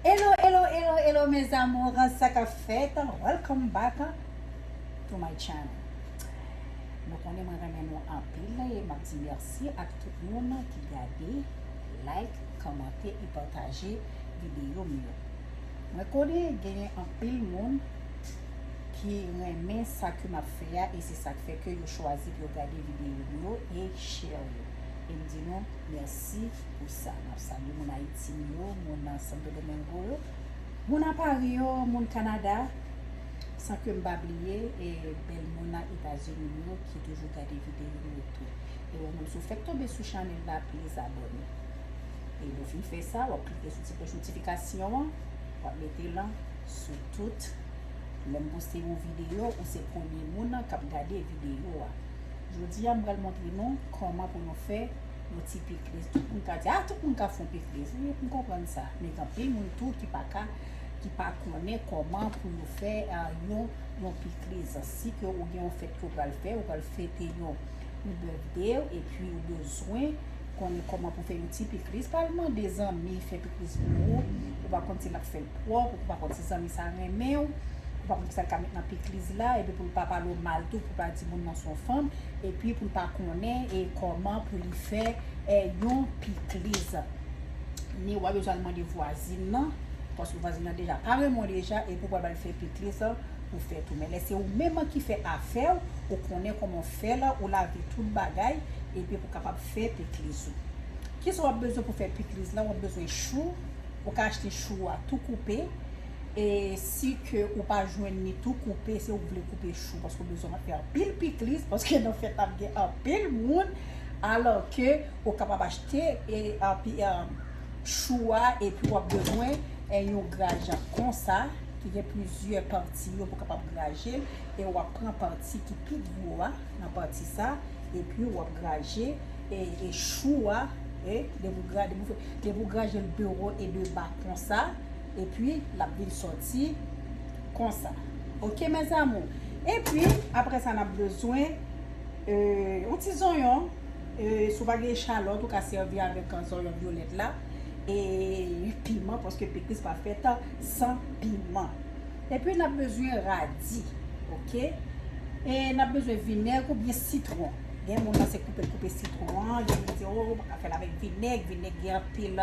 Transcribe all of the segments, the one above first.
Hello hello hello hello mes amours sa ka fèt welcome back to my channel nou konnen mwen renmen nou anpil e map di merci ak tout moun ki gade like komante e pataje video m yo mwen konnen genyen anpil moun ki renmen sa ke map fè a e se sak fè ke yo chwazi pou yo gade video m yo e share yo e m di nou merci pou Sa nap salye moun ayiti m yo, moun santo domengo yo, moun a pari yo, moun kanada san kem pa bliye e bèl moun a etazini m yo ki toujou gade videyo yo tou. E wè moun si w fèk tonbe sou chanèl la pliz abòne. E lè w fin fè sa wap klike sou ti klòch notifikasyon an wap mete l an sou tout lèm poste yon videyo ou se premye moun kap gade videyo a. Jodi a m pral montre nou kòman pou nou fè. Yon ti pikliz, tout moun ka di, ah tout moun ka fon pikliz wi, m konprann sa, men gen anpil moun tou ki pa ka, ki pa konnen kòman pou yo fè yon yon pikliz, si ke ou gen yon fèt ke ou pral fè, ou pral fete yon yon birthday w epi ou bezwen konnen kòman pou fè yon ti pikliz, pa al mande zanmi fè pikliz pou ou, ou pa konn si lap fèl pwòp, ou pa konn si zanmi sa renmen w, ou pa konn kisa l ka met nan pikliz la, epi pou l pa pale w mal tou, pou l pa di moun nan son fanm, Epi pou l pa konnen e kòman pou li fè è yon pikliz. Ni wap bezwen al mande vwazin nan, paske vwazin nan deja pa renmen w deja e pou pral ba l fè pikliz pou fè tou. Men lè se ou menm an ki fè afè w, ou konnen kòman w fè l, ou lave tout bagay epi pou kapab fè pikliz ou. Kisa wap bezwen pou fè pikliz la, wap bezwen chou, ou ka achte chou a tou koupe. E si ke ou pa jwenn li tou koupe se ou k vle koupe chou paske ou bezwen ap fè anpil pikliz paske nan fèt la ap gen anpil moun alò ke ou kapab achte chou a epi wap bezwen yon grajan konsa ki gen plizyè pati yo pou kapab graje l e wap pran pati ki pi gwo a nan pati sa epi wap graje e chou a depi ou graje l dewo e deba konsa. Epi lap vin soti konsa. Ok mes amour. Epi apre sa nap bezwen yon ti zonyon si w pa gen echalot ou ka sevi avek zonyon violet la e piman paske pikliz pa fet san piman. Epi nap bezwen radi ok e nap bezwen vineg ou byen sitron. Gen moun nan se koupe l koupe sitron an, gen moun ki di oh ou pa ka fel avek vineg, vineg gen anpil.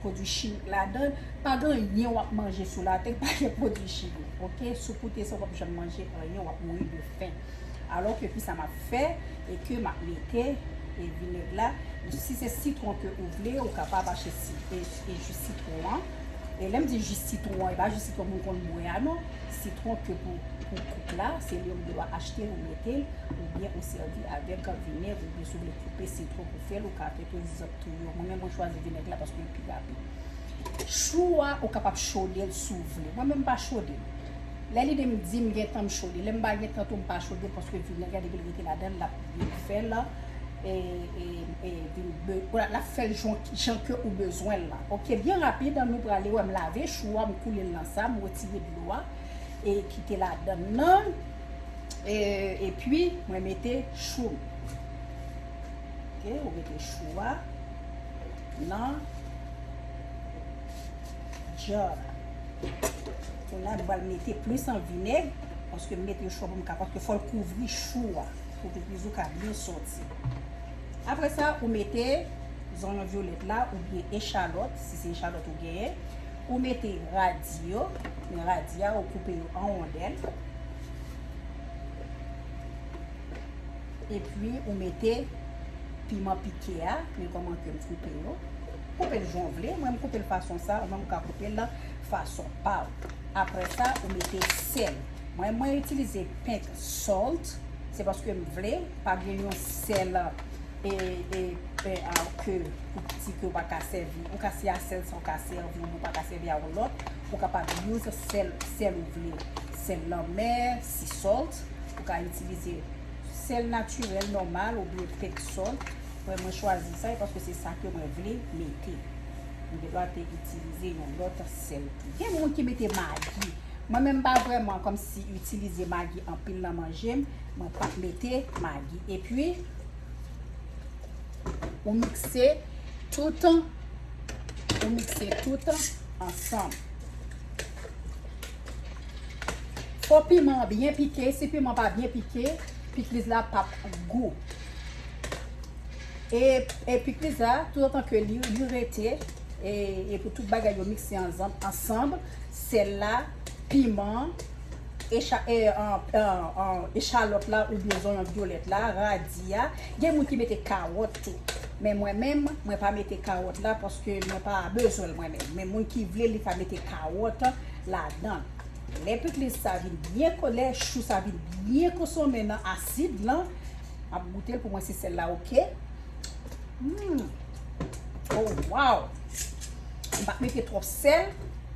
pwodwi chimik ladan l, pa gen anyen wap manje sou latè ki pa gen pwodwi chimik ok, si w koute sa w pap janm manje anyen wap mouri de fen, alò ke kisa map fè e ke map mete e vinèg la, si se sitwon ke ou vle ou kapab achte e ji sitwon an, e lèm di ji sitwon an e pa ji sitwon moun konn bwè a non, sitwon ke pou koup la se li ou dwa achte ou mete l oubyen ou sèvi avèk vinèg oubyen si w vle koupe sitwon pou fè l ou ka fè tou. tou yo mwen menm mwen chwazi vinèg la paske li pi rapid chou a ou kapab chodel si w vle mwen menm m pa chodel lè lide m di m gentan m chode lè m pa gentan tou m pa chodel paske vinèg la depi l rete ladan l lap vin fè l lap fè l jan ke ou bezwen l la ok byen rapid nou prale wè m lave chou a m koule l nan sa m wetire dlo a e kite ladan nan epi mwen mete chou m. ok ou mete chou a nan jar la kounye a nou pral mete plis an vinèg paske m mete yon chwa pou m ka paske fòl kouvri chou a pou pipris ou ka byen sòti apre sa ou mete zonyon vyolèt la ou byen echalòt si se echalòt ou genyen ou mete radi yo men radi a ou koupe yo an wondèl. Epi ou mete piman pike a, pil kòman kem koupe yo. Koupel jan ou vle, mwen m koupel fason sa, ou menm ou ka koupel la fason pa ou. Aprè sa ou mete sèl. Mwen mwen itilize pink salt, se paske m vle, pa gen yon sèl e e e a ke pou piti ke ou pa ka sèvi. Ou ka se a sèl sa ou ka sèvi, ou pa ka sèvi a yon lòt. Ou kapab use sèl, sèl ou vle. Sèl lanmè, sea salt, ou ka itilize. sèl natirèl nòmal ou byen fèk sòt wè mwen chwazi sa paske se sa ke mwen vle mete m gen dwa te itilize yon lòt sèl tou gen moun ki mete magi mwen menm pa vrèman kòm si itilize magi anpil nan manje m mwen pa mete magi epi ou mikse tout ou mikse tout ansanm Fò piman an byen pike, si piman pa byen pike, pikliz la pap gou. E pikliz la, tout antan ke li rete, e pou tout bagay yo mikse ansanm, sèl la, piman, echalòt la ou byen zonyon vyolèt la, radi a, gen moun ki mete kawòt tou. Men mwen menm, mwen pa mete kawòt la paske mwen pa bezwen l mwen menm. Men moun ki vle li ka mete kawòt. ladan. Lè pikliz sa vin byen ko lè chou sa vin byen konsonmen nan asid lan, map goutel pou wè si sèl la ok. Humm oh waww mpa mete trop sèl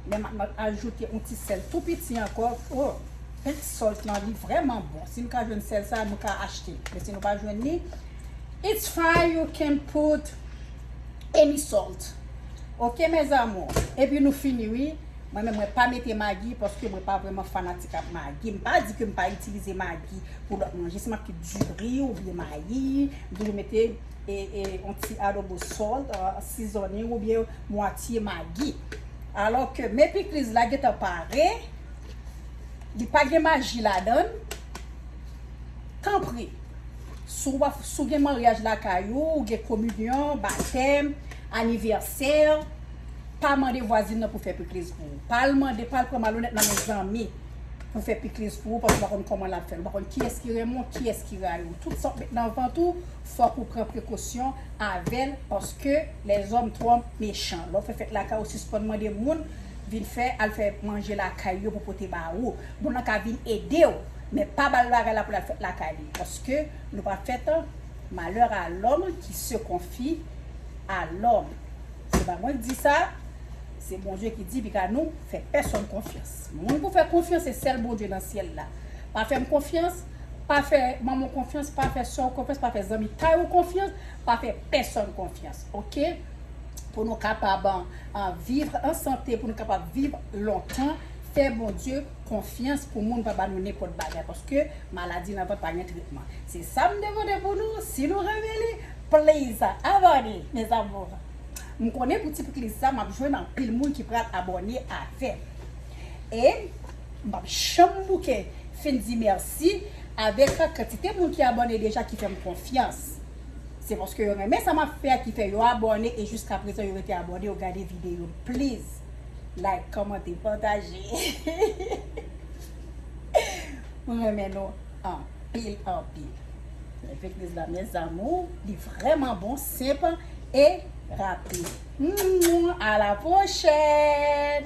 men map ajoute yon ti sèl tou piti ankò oh pink salt lan li vrèman bon si nou ka jwenn sèl sa nou ka achte men si nou pa jwenn li it's fine you can put any salt ok mes amours epi nou fini wi mwen menm mwen pa mete magi paske mwen pa vreman fanatik ak magi m pa di ke m pa itilize magi pou lòt manje si map ki di ri oubyen mayi m toujou mete on ti adobo salt seasoning oubyen mwatye magi alò ke men pikliz la gentan pare li pa gen magi ladann tanpri. Si w ap, si w gen maryaj lakay ou, ou gen kominyon, batèm, anivèsè, pa mande vwazin nan pou fè pikliz pou ou. Pa al mande, pa al pran malonèt nan men zanmi pou fè pikliz pou ou paske ou pa konn kòman l ap fè l, ou pa konn kiyès ki renmen w, kiyès ki rayi w. Tout sa w ap met nan vant ou, fòk ou pran prekosyon avè l paske lèzòm twò mechan. Lè w fè fèt lakay ou, sispann mande moun vin fè, al fè manje lakay yo pou pote ba ou. Moun nan ka vin ede w. Men pa bal bagay la pou lal fèt lakay li paske nou pa fèt an malheur à l'homme qui se confie à l'homme se pa mwen k di sa se Bondye ki di li ka nou fè pèsòn konfyans moun pou fè konfyans se sèl Bondye nan syèl la pa fèm konfyans pa fè manman w konfyans pa fè sè w konfyans pa fè zanmi kay ou konfyans pa fè pèsòn konfyans ok pou nou kapab an vivre an sante pou nou kapab viv lontan fè Bondye konfyans pou moun pa ba nou nenpòt bagay paske maladi nan vant pa gen tretman se sa m te pote pou nou si nou renmen li please abone mes amours m konnen pou ti pkliz sa map jwenn anpil moun ki pral abone avèm e m pap janm bouke fin di mèsi avèk kantite moun ki abone deja ki fèm konfyans se paske yo renmen sa map fè a ki fè yo abone e jiskaprezan yo rete abone yo gade videyo m please. Like kòmante pataje Mwen renmen nou anpil anpil Lè fèk riz la mes amours Li vrèman bon senp e rapid A la pwochèn.